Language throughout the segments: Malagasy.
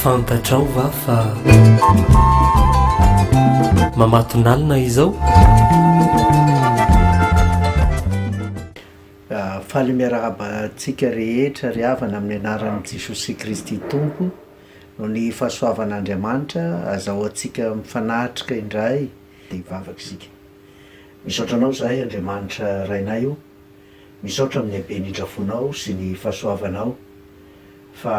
fantatrao va fa mamatonalina izao ah, faly miarahaba antsika rehetra ry havana amin'ny anaran'i jesosy kristy tompo Noho ny fahasoavan'Andriamanitra, azahoantsika mifanatrika indray dia hivavaka isika. Misaotra Anao izahay, Andriamanitra Rainay o, misaotra amin'ny haben'ny indrafonao sy ny fahasoavanao, fa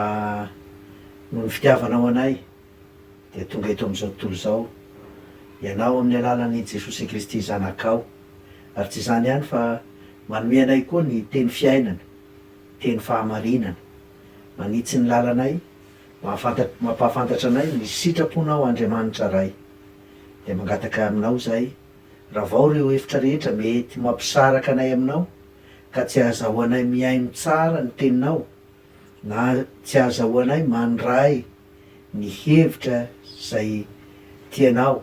noho ny fitiavanao anay dia tonga eto amin'izao tontolo izao Ianao amin'ny alalan'i Jesosy Kristy Zanakao, ary tsy izany ihany fa manome anay koa ny teny fiainana, teny fahamarinana. Manitsy ny lalanay, mampahafantatra anay ny sitraponao Andriamanitra Ray. Dia mangataka aminao izahay, ravao ireo hevitra rehetra mety mampisaraka anay aminao ka tsy ahazahoanay mihaino tsara ny teninao na tsy ahazahoanay mandray ny hevitra izay tianao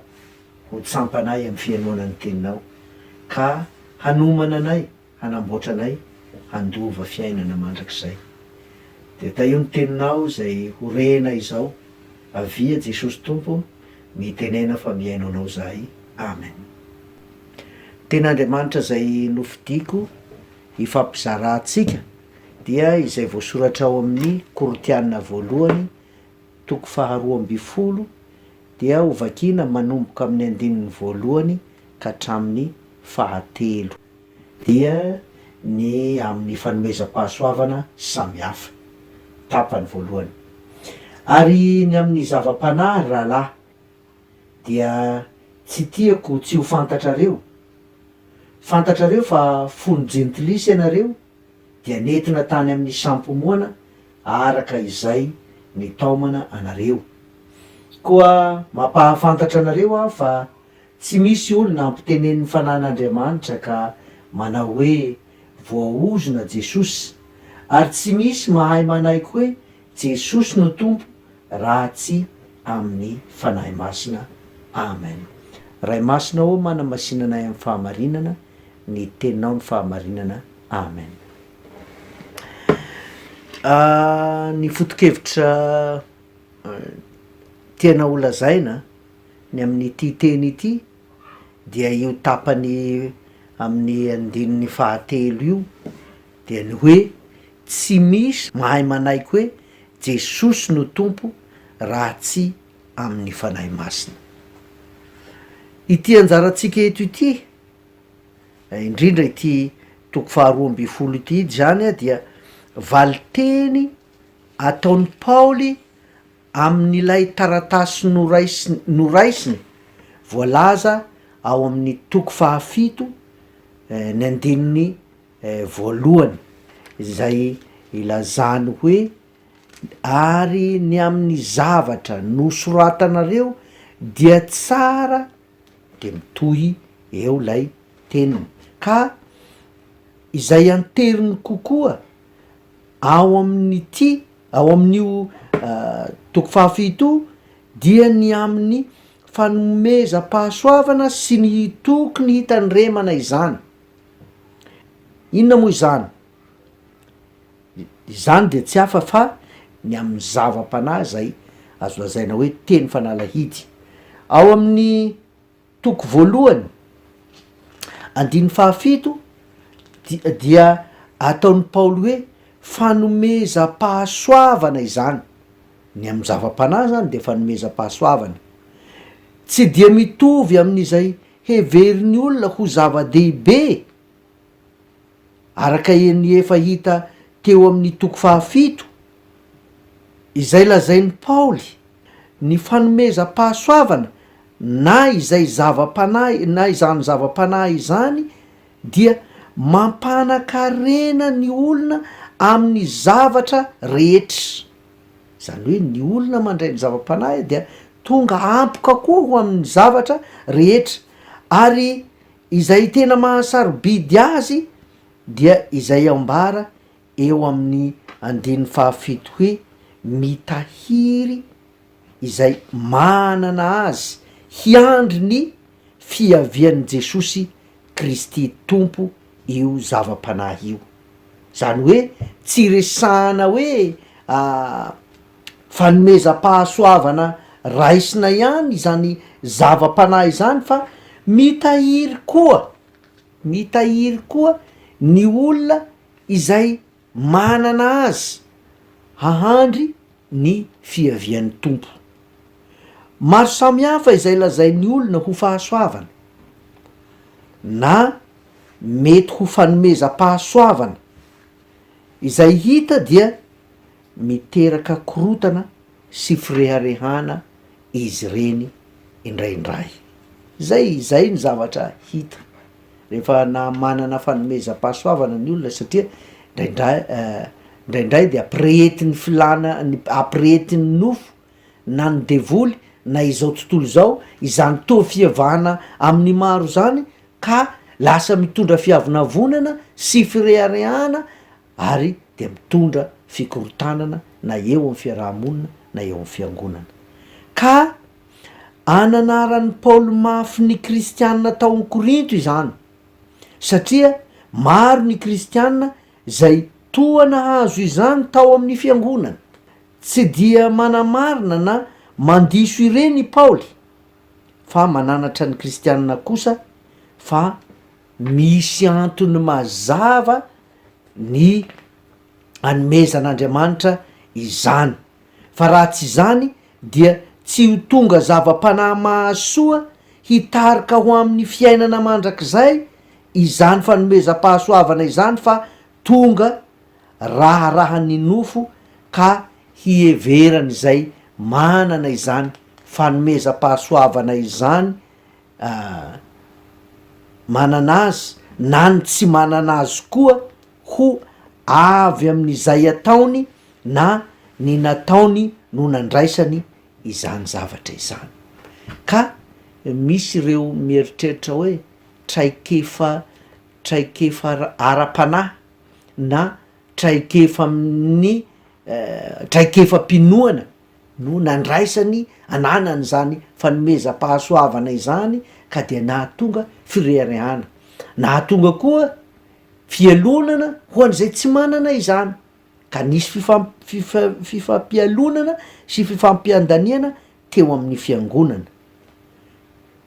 ho tsampanay amin'ny fihainoana ny teninao ka hanomana anay hanamboatra anay handova fiainana mandrakizay. Dia tahio ny teninao izay ho rena izao, avia Jesosy Tompo mitenena fa mihaino anao zahay Amen. Tena Andriamanitra izay nofidiko hifampizarantsika dia izay voasoratra ao amin'ny Korintiana voalohany toko faharoa ambin'ny folo dia hovakiana manomboka amin'ny andininy voalohany ka hatramin'ny fahatelo. dia ny amin'ny fanomezam-pahasoavana samihafa, tapany voalohany. Ary ny amin'ny zava-panahy, ry rahalahy, dia tsy tiako tsy ho fantatrareo, fantatrareo fa fony jentilisa ianareo dia nentina tany amin'ny sampomoana araka izay nitaomana anareo. Koa mampahafantatra anareo aho fa Tsy misy olona ampitenenin'ny Fanahin'Andriamanitra ka manao hoe voaozona Jesosy, ary tsy misy mahay manaiky hoe Jesosy no Tompo raha tsy amin'ny Fanahy Masina. Amen. Ray Masina ô manamasina anay amin'ny fahamarinana, ny Teninao no fahamarinana. Amen. Ny foto-kevitra tianao holazaina. Ny amin'ity teny ity dia io tapany amin'ny andininy fahatelo io dia ny hoe tsy misy mahay manaiky hoe Jesosy no Tompo raha tsy amin'ny Fanahy Masina. Ity anjarantsika eto ity, indrindra ity toko faharoa ambin'ny folo ity izany dia valinteny ataon'i Paoly, Amin'ilay taratasy noraisiny, voalaza ao amin'ny toko fahafito, ny andininy voalohany, izay ilazany hoe, Ary ny amin'ny zavatra nosoratanareo dia tsara, dia mitohy eo lay teniny ka izay anteriny kokoa ao amin'ity ao amin'io toko fahafito dia ny amin'ny fanomezam-pahasoavana sy ny toky ny hitandremana izany, inona moa izany? Izany dia tsy hafa fa ny amin'ny zava-panahy izay azo lazaina hoe teny fanalahidy. Ao amin'ny toko voalohany andininy fahafito di- dia ataon'i Paoly hoe fanomezam-pahasoavana izany, ny amin'ny zava-panahy zany de fanomezam-pahasoavana, tsy dia mitovy amin'izay heverin'ny olona ho zava-dehibe. Araka ny efa hita teo amin'ny toko fahafito, izay lazain'i Paoly, ny fanomezam-pahasoavana na izay zava-panahy na izany zava-panahy izany dia mampanan-karena ny olona amin'ny zavatra rehetra. Izany hoe ny olona mandray ny zava-panahy dia tonga ampoka koa ho amin'ny zavatra rehetra ary Izay tena mahasarobidy azy dia izay ambara eo amin'ny andininy fahafito hoe, Mitahiry izay manana azy hiandry ny fiavian'i Jesosy Kristy Tompo io zava-panahy io. Izany hoe tsy resahana hoe. fanomezam-pahasoavana raisina ihany izany zava-panahy izany fa mitahiry koa, mitahiry koa ny olona izay manana azy hahandry ny fiavian'ny Tompo. Maro samihafa izay lazain'ny olona ho fahasoavana na mety ho fanomezam-pahasoavana. Izay hita dia miteraka korotana sy fireharehana izy ireny indraindray. Izay izay ny zavatra hita rehefa na manana fanomezam-pahasoavana ny olona satria indraindray indraindray dia ampirehetin'ny filana ny ampirehetin'ny nofo na ny devoly na izao tontolo izao izany toa fihevahana amin'ny maro izany ka lasa mitondra fiavonavonana sy fireharehana ary dia mitondra fikorontanana na eo amin'ny fiaraha-monina na eo amin'ny fiangonana. Ka ananaran'i Paoly mafy ny kristiana tao amin'ny Korinto izany, satria maro ny kristiana izay toa nahazo izany tao amin'ny fiangonana. Tsy dia manamarina na mandiso ireny i Paoly. fa mananatra ny kristianina kosa fa misy antony mazava ny anomezan'Andriamanitra izany fa raha tsy izany dia tsy ho tonga zava-panahy mahasoa hitarika ho amin'ny fiainana mandrakizay izany fanomezam-pahasoavana izany fa tonga raharahan'ny nofo ka hiheveran'izay manana izany fanomezam-pahasoavana izany manana azy na ny tsy manana azy koa ho avy amin'izay ataony na ny nataony no nandraisany izany zavatra izany, ka misy ireo mieritreritra hoe traikefa traikefa ara-panahy na traikefa amin'ny traikefam-pinoana no nandraisany ananany izany fanomezam-pahasoavana izany ka dia nahatonga fireharehana, nahatonga koa fialonana ho an'izay tsy manana izany ka nisy fifam- fifa- fifampialonana sy fifampiandaniana teo amin'ny fiangonana.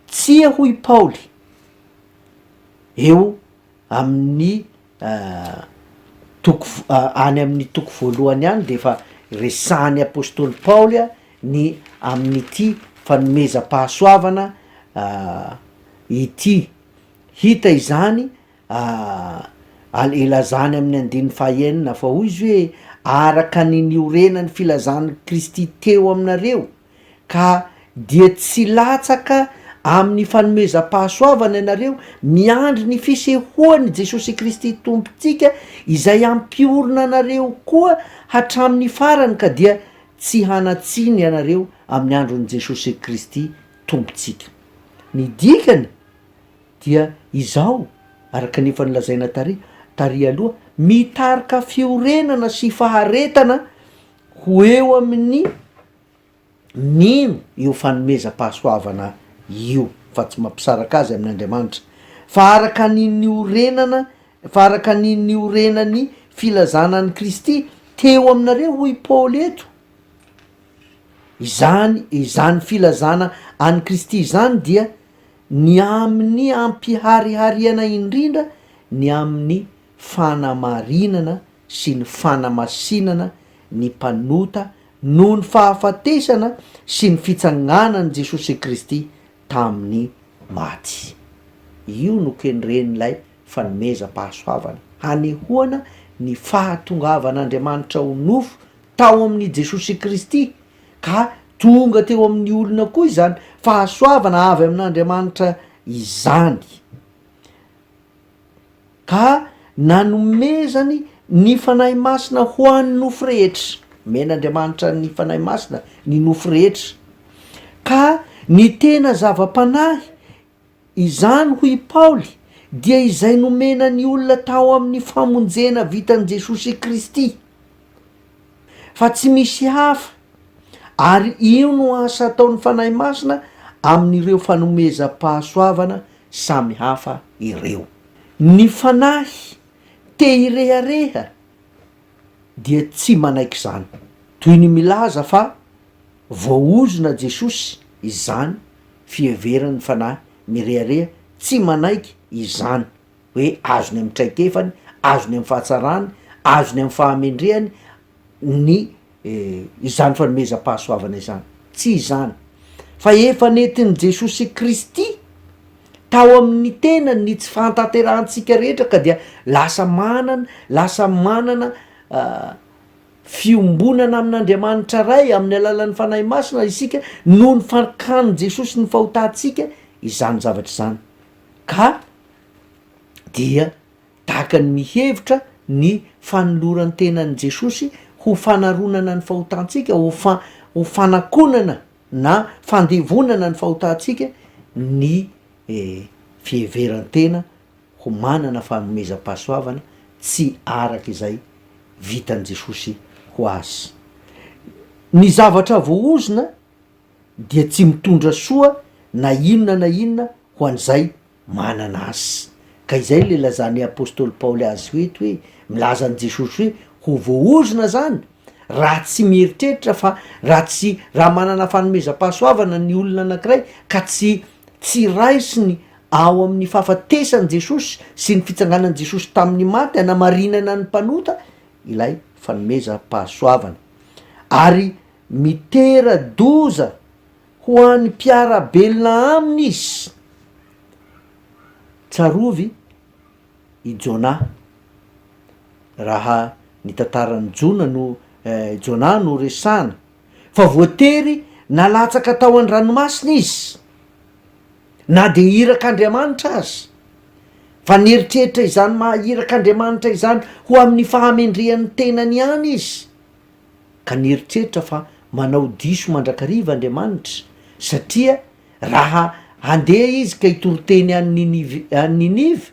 Tsia hoy Paoly eo Amin'ny toko any amin'ny toko voalohany any dia efa resahan'ny apostoly Paoly ny amin'ity fanomezam-pahasoavana ity. Hita izany al- ilazany amin'ny andininy fahaenina fa hoy izy hoe araka ny niorenan'ny filazan'i Kristy teo aminareo, ka dia tsy latsaka amin'ny fanomezam-pahasoavana ianareo, miandry ny fisehoan'i Jesosy Kristy Tompontsika izay hampiorina anareo koa hatramin'ny farany ka dia tsy hanatsiny ianareo amin'ny andron'i Jesosy Kristy Tompontsika. Ny dikany dia izao, araka ny efa nolazaina tary, tary aloha, mitarika fiorenana sy faharetana ho eo amin'ny mino io fanomezam-pahasoavana io fa tsy mampisaraka azy amin' Andriamanitra, fa araka ny niorenana, fa araka ny niorenan'ny filazana an'i Kristy teo aminareo hoy i Paoly eto, izany, izany filazana an'i Kristy izany dia ny amin'ny ampiharihariana indrindra ny amin'ny fanamarinana sy ny fanamasinana ny mpanota noho ny fahafatesana sy ny fitsanganan'i Jesosy Kristy tamin'ny maty. Io no kendren'ilay fanomezam-pahasoavana hanehoana ny fahatongavan'Andriamanitra ho nofo tao amin'i Jesosy Kristy, ka tonga teo amin'ny olona koa izany fahasoavana avy amin'Andriamanitra izany. ka nanomezany ny Fanahy Masina ho an'ny nofo rehetra, omen'Andriamanitra ny Fanahy Masina ny nofo rehetra, ka ny tena zava-panahy, izany hoy i Paoly dia izay nomena ny olona tao amin'ny famonjena vitan'i Jesosy Kristy. Fa tsy misy hafa, ary io no asa ataon'ny Fanahy Masina amin'ireo fanomezam-pahasoavana samy hafa ireo. Ny Fanahy te hirehareha dia tsy manaiky izany, toy ny milaza fa voaozona Jesosy izany, fiheveran'ny Fanahy mirehareha tsy manaiky izany. hoe azony amin'ny traikefany, azony amin'ny fahatsarany, azony amin'ny fahamendrehany ny izany fanomezam-pahasoavana izany, tsy izany fa efa nentin'i Jesosy Kristy tao amin'ny tenany ny tsy fahatanterahantsika rehetra ka dia lasa manana lasa manana fiombonana amin'Andriamanitra Ray amin'ny alalan'ny Fanahy Masina isika noho ny fankanin'i Jesosy ny fahotantsika izany zavatra izany. ka dia takany mihevitra ny fanoloran-tenan'i Jesosy ho fanaronana ny fahotantsika, ho fa- ho fanakonana na fandevonana ny fahotantsika ny fiheveran-tena ho manana fanomezam-pahasoavana tsy araka izay vitan'i Jesosy ho azy. Ny zavatra voaozona. dia tsy mitondra soa na inona na inona ho an'izay manana azy. Ka izay ilay lazan'i apostoly Paoly azy ho eto hoe, milaza an'i Jesosy hoe ho voaozona izany raha tsy mieritreritra fa raha tsy, raha manana fanomezam-pahasoavana ny olona anankiray ka tsy, tsy raisiny ao amin'ny fahafatesan'i Jesosy sy ny fitsanganan'i Jesosy tamin'ny maty hanamarinana ny mpanota ilay fanomezam-pahasoavana. Ary Mitera-doza ho an'ny mpiara-belona aminy izy. Tsarovy i Jona. Raha ny tantaran'i Jona no Jona no resahana, fa voatery nalatsaka tao an-dranomasina izy, na dia irak'Andriamanitra aza, fa nieritreritra izany maha irak'Andriamanitra izany ho amin'ny fahamendrehan'ny tenany ihany izy. ka nieritreritra fa manao diso mandrakariva Andriamanitra, satria raha handeha izy ka hitory teny any Ninive, any Ninive,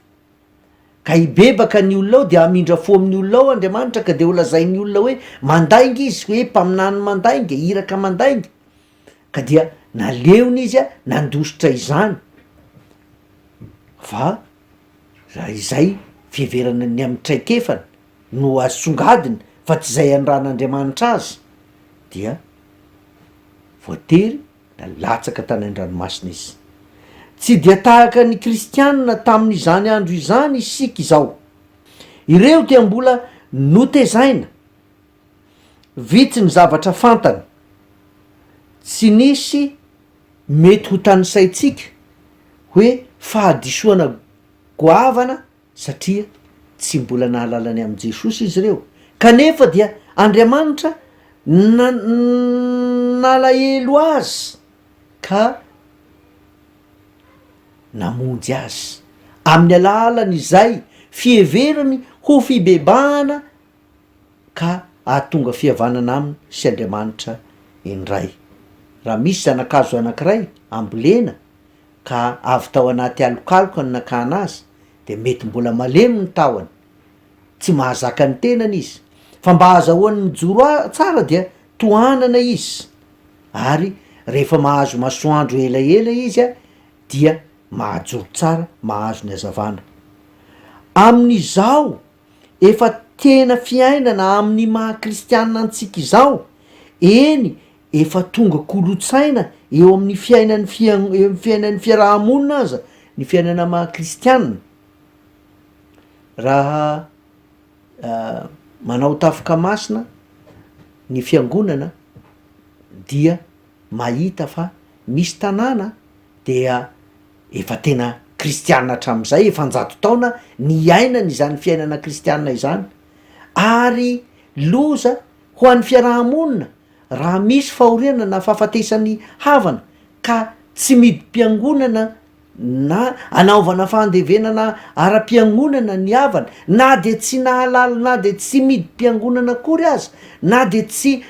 ka hibebaka ny olona ao, dia hamindra fo amin'ny olona ao Andriamanitra, ka dia holazain'ny olona hoe mandainga izy, hoe mpaminany mandainga, iraka mandainga. Ka dia naleony izy nandositra izany. Fa. Raha izay, fiheverana ny amin'ny traikefany no asongadiny fa tsy izay anirahan'Andriamanitra azy dia voatery na latsaka tany an-dranomasina izy. Tsy dia tahaka ny kristianina tamin'izany andro izany isika izao. Ireo dia mbola notezaina. Vitsy ny zavatra fantany. Tsy nisy mety ho tanisaintsika hoe fahadisoana goavana satria tsy mbola nahalala ny amin'i Jesosy izy ireo. Kanefa dia Andriamanitra na- nalahelo azy ka namonjy azy amin'ny alalan'izay fiheverany ho fibebahana. ka hahatonga fihavanana aminy sy Andriamanitra indray. Raha misy zana-kazo anankiray ambolena ka avy tao anaty alokaloka ny nakana azy dia mety mbola malemy ny tahony, tsy mahazaka ny tenany izy, fa mba hahazahoany mijoro a- tsara dia tohanana izy, ary rehefa mahazo masoandro elaela izy a, dia mahajoro tsara, mahazo ny hazavana. Amin'izao. efa tena fiainana amin'ny maha kristiana antsika izao, eny efa tonga kolotsaina eo amin'ny fiainan'ny fia- eo amin'ny fiainan'ny fiaraha-monina aza ny fiainana maha kristiana, raha manao tafika masina ny fiangonana dia mahita fa misy tanàna dia Efa tena kristiana hatramin'izay, efa an-jato taona niainany izany fiainana kristiana izany, ary loza ho an'ny fiaraha-monina raha misy fahoriana na fahafatesan'ny havana ka tsy midim-piangonana na anaovana fandevenana ara-piangonana ny havana, na dia tsy nahalala na dia tsy midim-piangonana akory aza, na dia tsy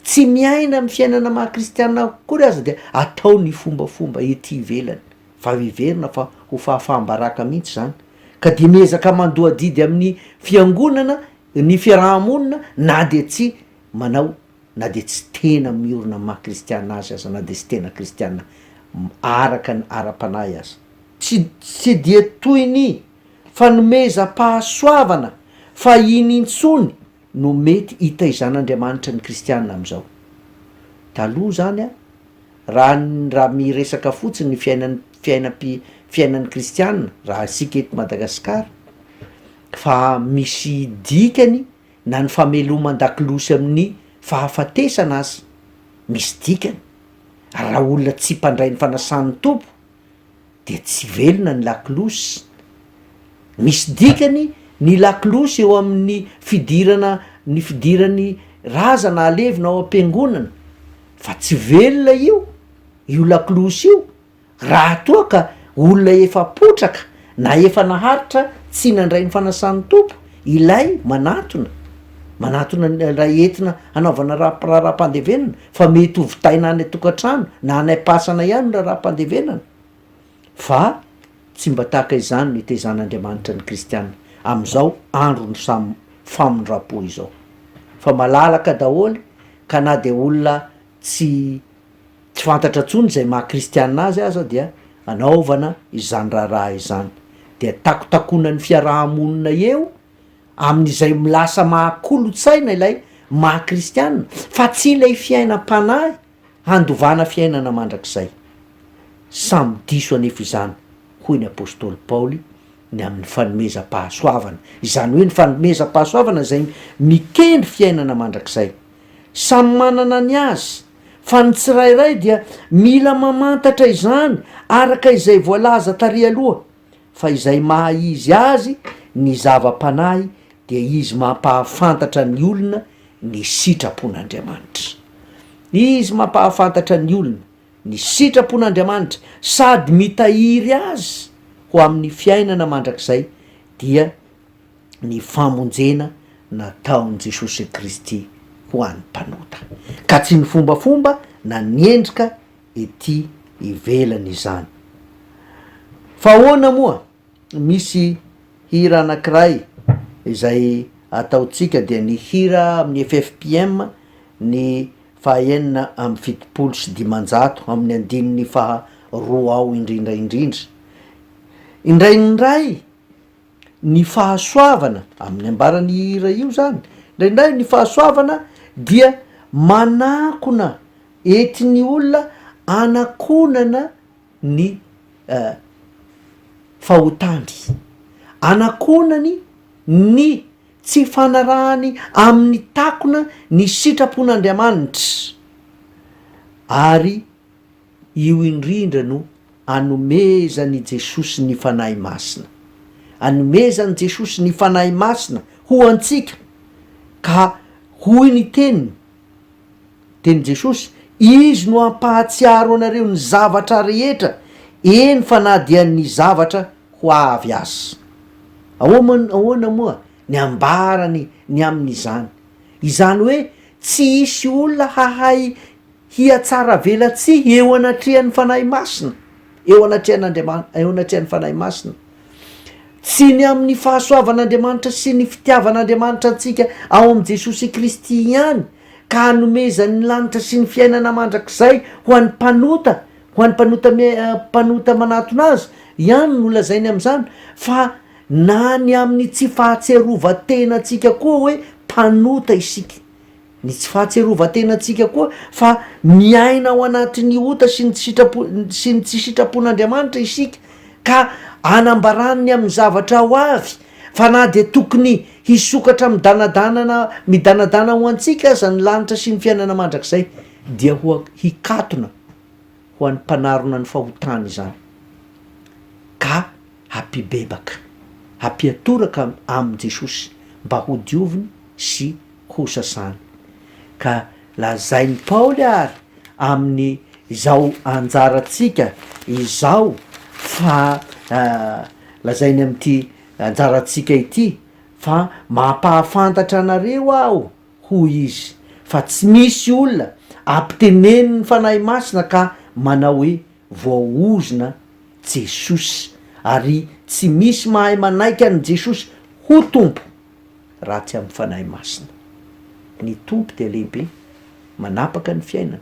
Tsy miaina amin'ny fiainana maha kristiana akory aza dia atao ny fombafomba ety ivelany. Fa heverina fa ho fahafaham-baraka mihitsy izany. Ka dia miezaka mandoa adidy amin'ny fiangonana ny fiaraha-monina na dia tsy manao na dia tsy tena miorina amin'ny maha kristiana azy aza na dia tsy tena kristiana araka ny ara-panahy aza. Tsy tsy dia toy ny fanomezam-pahasoavana fahiny intsony no mety hitaizan'Andriamanitra ny kristiana amin'izao. Taloha izany an, raha raha miresaka fotsiny ny fiainan'ny fiainam-pi fiainan'ny kristiana raha isika eto Madagasikara fa misy dikany na ny fameloman-dakiloha sy amin'ny fahafatesana aza misy dikany, ary raha olona tsy mpandray ny fanasan'ny Tompo, dia tsy velona ny lakolosy. Misy dikany ny lakolosy eo amin'ny fidirana ny fidiran'ny razana halevina ao am-piangonana fa tsy velona io io lakolosy io raha toa ka olona efa potraka na efa naharitra tsy nandray ny fanasan'ny Tompo Ilay manatona, manatona ilay entina hanaovana raharaham-pandevenana fa mety ho vitaina any an-tokantrano na any am-pasana ihany ny raharaham-pandevenana fa tsy mba tahaka izany no itezanan-Andriamanitra ny kristiana amin'izao andron'ny samy famindram-po izao fa malalaka daholo ka na dia olona tsy tsy fantatra intsony izay maha kristiana azy aza dia anaovana izany raharaha izany, dia takotakonan'ny fiaraha-monina eo amin'izay lasa maha kolontsaina ilay maha kristiana fa tsy ilay fiainam-panahy handovana fiainana mandrakizay. Samy diso anefa izany hoy ny apostoly Paoly ny amin'ny fanomezam-pahasoavana, izany hoe ny fanomezam-pahasoavana izay mikendry fiainana mandrakizay. Samy manana ny azy, fa ny tsirairay dia mila mamantatra izany araka izay voalaza tary aloha, fa izay maha izy azy ny zava-panahy dia izy mampahafantatra ny olona ny sitrapon'Andriamanitra. Izy mampahafantatra ny olona ny sitrapon'Andriamanitra sady mitahiry azy ho amin'ny fiainana mandrakizay dia. ny famonjena nataon'i Jesosy Kristy ho an'ny mpanota, ka tsy ny fombafomba na ny endrika ety ivelany izany. Fa ahoana moa? Misy hira anankiray izay ataontsika dia ny hira amin'ny FFPM ny fahaenina amby fitopolo sy dimanjato amin'ny andininy faha roa ao indrindra indrindra, Indray ny Ray, ny fahasoavana, amin'ny ambaran'io hira io zany, indraindray ny fahasoavana dia manakona entin'ny olona anakonana ny fahotany, anakonany ny tsy fanarahany amin'ny takona ny sitrapon'Andriamanitra ary. Io indrindra no anomezan' i Jesosy ny Fanahy Masina. Anomezan' i Jesosy ny Fanahy Masina ho antsika, ka hoy ny Teniny, Tenin'i Jesosy, Izy no hampahatsiaro anareo ny zavatra rehetra, eny fa na dia ny zavatra ho avy aza. Ahoan, ahoana moa ny ambarany ny amin' izany? Izany hoe tsy hisy olona hahay hihatsaravelatsihy eo anatrehan'ny Fanahy Masina, eo anatrehan'Andriamanitra, eo anatrehan'ny Fanahy Masina. Tsy ny amin'ny fahasoavan'Andriamanitra sy ny fitiavan'Andriamanitra antsika ao amin'i Jesosy Kristy ihany, ka hanomezan'ny lanitra sy ny fiainana mandrakizay ho an'ny mpanota, ho an'ny mpanota mpanota manatona Azy, ihany no lazainy amin'izany, fa na ny amin'ny tsy fahatsiarovan-tenantsika koa hoe mpanota isika. Ny tsy fahatsiarovan-tenantsika koa fa miaina ao anatin'ny ota sy ny tsy sitrapo sy ny tsy sitrapon'Andriamanitra isika ka anambarany ny amin'ny zavatra ho avy, fa na dia tokony hisokatra midanadanana midanadana ho antsika aza ny lanitra sy ny fiainana mandrakizay, dia ho hikatona ho an'ny mpanarona ny fahotany izany ka hampibebaka, hampiatoraka amin'i Jesosy mba hodioviny sy kosa izany, ka lazain'i Paoly àry amin'izao anjarantsika izao fa, lazainy amin'ity anjarantsika ity fa, mampahafantatra anareo aho, hoy izy, fa tsy misy olona ampitenenin'ny Fanahy Masina ka manao hoe, voaozona Jesosy, ary tsy misy mahay manaiky an'i Jesosy ho Tompo. ratsy amin'ny Fanahy Masina. Ny Tompo dia lehibe, manapaka ny fiainana.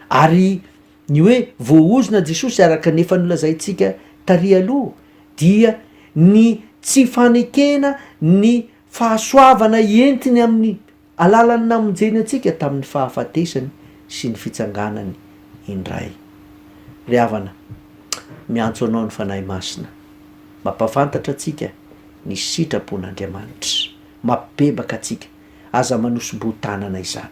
Ary ny hoe voaozona Jesosy araka ny efa nolazaintsika tary aloha dia ny tsy fanekena ny fahasoavana entiny amin'ny alalan'ny namonjeny antsika tamin'ny fahafatesany sy ny fitsanganany indray. Ry havana, miantso anao ny Fanahy Masina mba hampafantatra antsika ny sitrapon'Andriamanitra mapbebaka antsika, aza manosim-boho-tanana izany.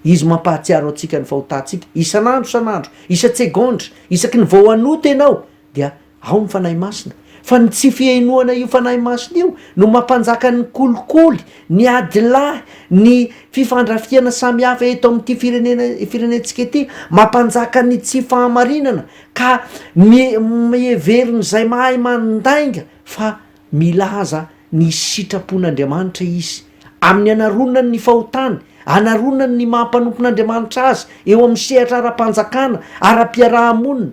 Izy mampahatsiaro antsika ny fahotantsika isan'andro isan'andro, isan-tsegondra, isaky ny vao hanota ianao dia ao ny Fanahy Masina, fa ny tsy fihenoana io Fanahy Masina io no mampanjaka ny kolikoly, ny adilahy, ny fifandrafiana samihafa eto amin'ity firenena firenentsika ity, mampanjaka ny tsy fahamarinana ka mi miheverin'izay mahay mandainga, fa milaza ny sitrapon'Andriamanitra izy. Amin'ny anaronany ny fahotany, anaronany ny maha mpanompon'Andriamanitra azy eo amin'ny sehatra ara-panjakana, ara-piaraha-monina,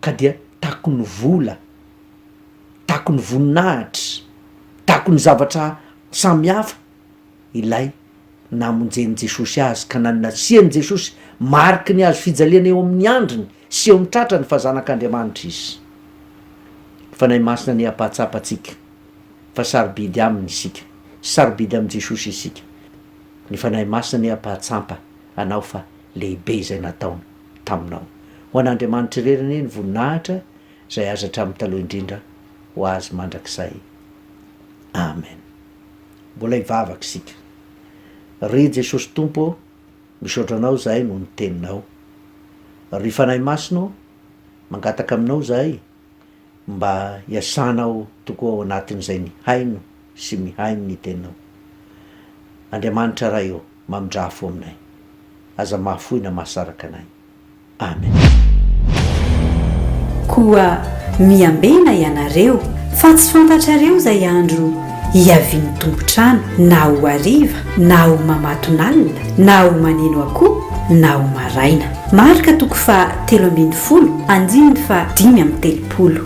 ka dia takon'ny vola, takon'ny voninahitra, takon'ny zavatra samihafa, ilay namonjen'i Jesosy azy ka nanasian'i Jesosy mariky ny hazo fijaliana eo amin'ny handriny sy eo amin'ny tratrany fa zanak'Andriamanitra izy. Ny Fanahy Masina anie hampahatsapa antsika fa sarobidy Aminy isika. Sarobidy amin'i Jesosy isika. Ny Fanahy Masina anie hampahatsampa anao fa lehibe izay nataony taminao. Ho an'Andriamanitra irery anie ny voninahitra izay azy hatramin'ny taloha indrindra ho Azy mandrakizay. Amen. Mbola hivavaka isika. Ry Jesosy Tompo ô, misaotra Anao izahay noho ny Teninao. Ry Fanahy Masina ô, mangataka aminao izahay mba hiasanao tokoa ao anatin'izay nihaino sy mihaino ny Teninao. Andriamanitra Ray ô, mamindrà fo aminay. Aza mahafoy na mahasaraka anay. Amen. Koa miambena ianareo, fa tsy fantatrareo izay andro hiavian'ny tompon-trano, na ho hariva, na ho mamatonalina, na ho maneno akoho, na ho maraina. Marka toko faha telo ambin'ny folo, andininy faha dimy amby telopolo.